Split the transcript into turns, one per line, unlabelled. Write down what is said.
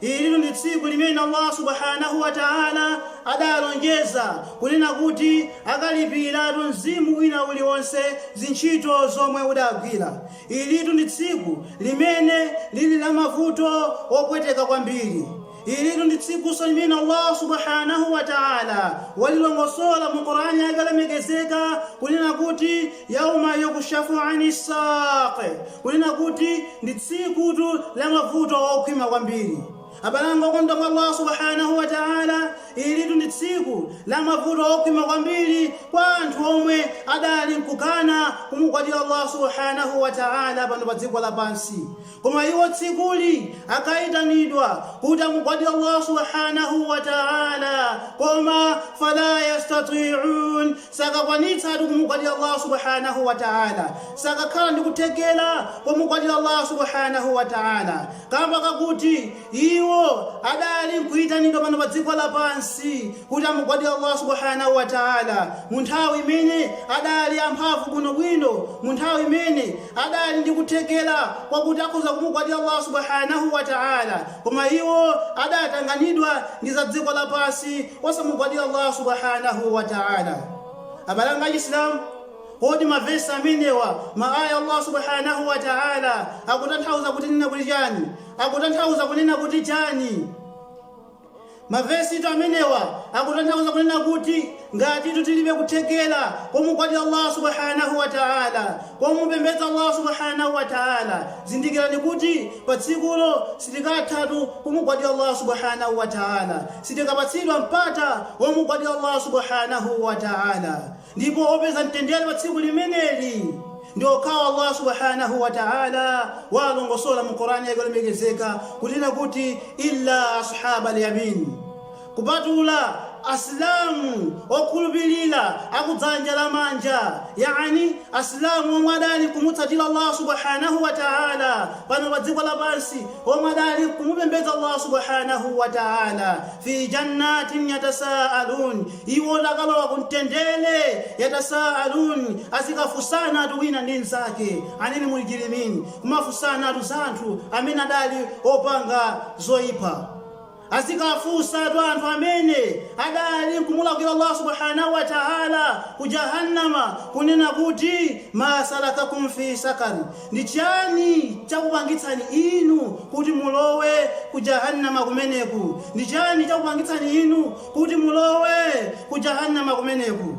Ilitu ndi tsiku limene Allah Subhaanahu wa Ta'ala adalonjeza kunena kuti akalipiratu mzimu wina uliwonse zintchito zomwe udagwira. Ilitu ndi tsiku limene lili la mavuto opweteka kwambiri. Ilitu ndi tsikunso limene Allah Subhaanahu wa Ta'ala walilongosola mu Qur'aan Yake yolemekezeka kunena kuti, Yauma yukshafu ani ssaaq. Kunena kuti ndi tsikutu la mavuto okhwima kwambiri. Abale anga okondedwa mwa Allah Subhaanahu wa Ta'ala, ilitu ndi tsiku la mavuto okhwima kwambiri kwa anthu omwe adali nkukana kumugwadira Allah Subhaanahu wa Ta'ala pano pa dziko lapansi. Koma iwo tsikuli akaitanidwa kuti amugwadire Allah Subhaanahu wa Ta'ala koma falaa yastatwi'uun, sakakwanitsatu kumugwadira Allah Subhaanahu wa Ta'ala, sakakhala ndi kuthekera komugwadira Allah Subhaanahu wa Ta'ala kamba kakuti iwo adali nkuitanidwa pano pa dziko lapansi kuti amugwadire Allah Subhaanahu wa Ta'ala mu nthawi imene adali amphamvu bwino bwino, mu nthawi imene adali ndi kuthekera kwakuti akhoza kumugwadira Allah Subhaanahu wa Ta'ala, koma iwo adatanganidwa ndi za dziko lapansi. osamugwadira Allah Subhaanahu wa Ta'ala. Abale anga Achisilamu, kodi mavesi amenewa, ma aya Allah Subhaanahu wa Ta'ala akutanthauza kunena kuti chani? Akutanthauza kunena kuti chani? Mavesitu amenewa akutanthauza kunena kuti ngatitu tilibe kuthekera komugwadira Allah Subhaanahu wa Ta'ala, komupembedza Allah Subhaanahu Wa Ta'ala, zindikirani kuti pa tsikulo sitikathatu kumugwadira Allah Subhaanahu Wa Ta'ala, sitikapatsidwa mpata womugwadira Allah Subhaanahu Wa Ta'ala, ndipo opeza mtendere pa tsiku limeneli ndi okhawo Allah Subhaanahu Wa Ta'ala waalongosola mu Qur'an Yake yolemekezeka kunena kuti, Illa As'haabal Yamiin. Kupatula Asilamu okhulupilira a ku dzanja la manja, yaani Asilamu omwe adali kumutsatira Allah Subhaanahu wa Ta'ala pano pa dziko lapansi, omwe adali kumupembedza Allah Subhaanahu wa Ta'ala, fii Jannatin yatasa'alun, iwo akalowa ku mtendere, yatasa'alun, azikafunsanatu wina ndi mnzake, anil mujrimin, kumafunsanatu za anthu amene adali opanga zoipa. Azikafunsatu anthu amene adali nkumulakwira Allah Subhaanahu Wa Ta'ala ku Jahannama kunena kuti, Maa salakakum fii saqar? Ndi chiyani chakupangitsani inu kuti mulowe ku Jahannama kumeneku? Ndi chiyani chakupangitsani inu kuti mulowe ku Jahannama kumeneku?